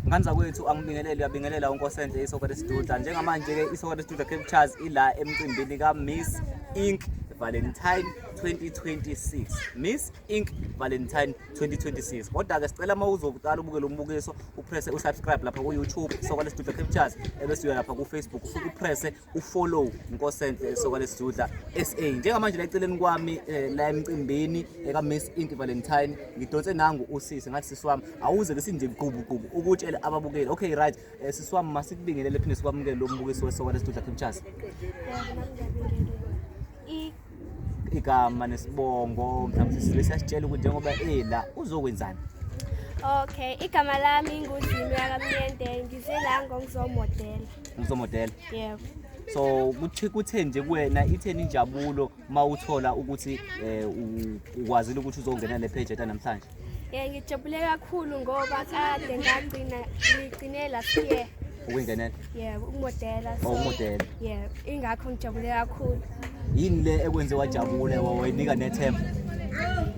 ngani zakwethu angibingelele uyabingelela unkosenhle isoka lesiduda njengamanje-ke isoka lesiduda cape charles ila emcimbini ka-miss ink valentine 2026 miss ink valentine 2026 kodwa-ke sicela uma uzoqala ubuke lo mbukiso uprese usubscribe lapha ku-youtube isoka lesiduda cape charles ebese uya lapha kufacebook ufike uprese ufollow Nkosenhle esoka lesizudla SA njengamanje la eceleni kwami eh, la emcimbini eka Miss Inti Valentine ngidonse nangu usisi ngathi sisi wami awuze lesinje gqubu gqubu ukutshela ababukeli okay right eh, sisi wami masikubingelele phinde sikwamukele lo mbukiso wesoka lesizudla Kimchasa igama nesibongo mhlawumbe sisile siyasitshela ukuthi njengoba ela uzokwenzani Okay, igama lami nguZimi yakamnyende ngize la ngongizomodela. Ngizomodela. Yebo. So kuthi kuthe nje kuwena itheni injabulo mawuthola ukuthi eh ukwazile ukuthi uzongena le page eta namhlanje. Eh ngijabule kakhulu ngoba kade ngagcina ngigcine last year. Ukungenela? Yebo, ukumodela. Oh, ukumodela. Yebo, ingakho ngijabule kakhulu. Yini le ekwenze wajabule wayinika nethemba?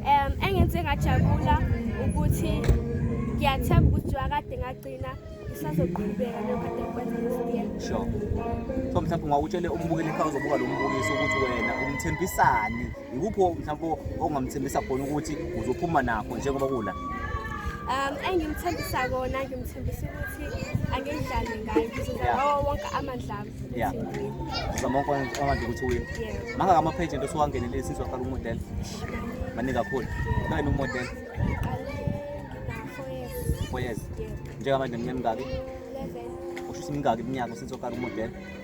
Um engenze ngajabula ukuthi ngiyathemba ukuthi wakade ngagcina isazoqhubeka lokho kade ngikwenza last year. Sure. So mhlawumbe ngawutshele umbukeli ekhaya uzobuka lo mbukiso ukuthi wena umthembisani Yikuphi mhlawumbe ongamthembisa khona ukuthi uzophuma nakho njengoba kula? Um engimthembisa kona ngimthembisa ukuthi angidlale ngayo ngizozama ngawo wonke amandla ami. Yeah. Uzama wonke amandla ukuthi uwine. Yeah. Mangaka ama-page into osuwangenelile since waqala umodela? Maningi kakhulu. Kayini umodela? Four years. Yeah. Njengamanje mnyamingaki? Eleven. Ushisa imingaki iminyaka since waqala umodela?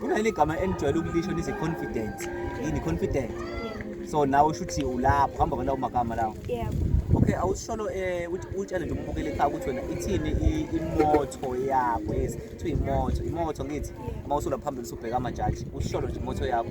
kunaleli gama enijwayele ukulisho nithi confidence yini confident so nawe usho ukuthi ulapho hamba kwalawo magama lawo yebo okay awusisholo um uthi utshele nje umbukeli ekhaya ukuthi wena ithini i- imotho yakho yes kuthiwa imoto imoto ngithi uma usulapha phambili usubheka amajaji usisholo nje imoto yakho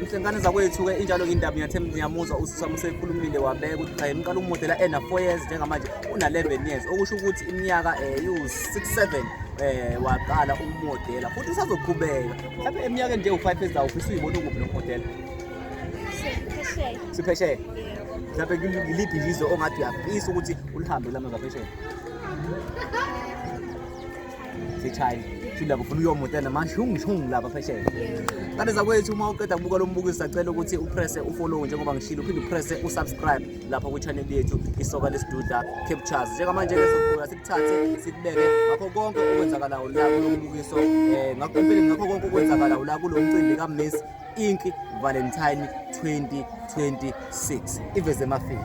Mhlengane zakwethu-ke injalo indaba ngiyathemba ngiyamuzwa uSisamo usekhulumile wabeka ukuthi cha yemqala umodela ena 4 years njengamanje una-11 years okusho ukuthi iminyaka um eh, iwu-6 7 um eh, waqala umodela futhi usazoqhubeka mhlawumbe eminyakeni nje u-five years awufisa uyibona ukuphi lo modela siphesheya mhlawumbe ngiliphi izwe ongathi uyafisa ukuthi ulihambe lama ngaphesheya sechina shila kufuna uyomuta namashungishungu lapha phesheya kanti zakwethu uma uqeda kubuka lo mbukiso sacela ukuthi upresse ufollow njengoba ngishilo uphinde upresse usubscribe lapha kwichannel yethu isoka lesiduda captures njengamanje lesokhula sikuthathe sikubeke ngakho konke okwenzakalayo la kulo mbukiso um ngakho empeleni ngakho konke okwenzakalayo la kulo mcimbi kamiss ink valentine 2026 iveze emafini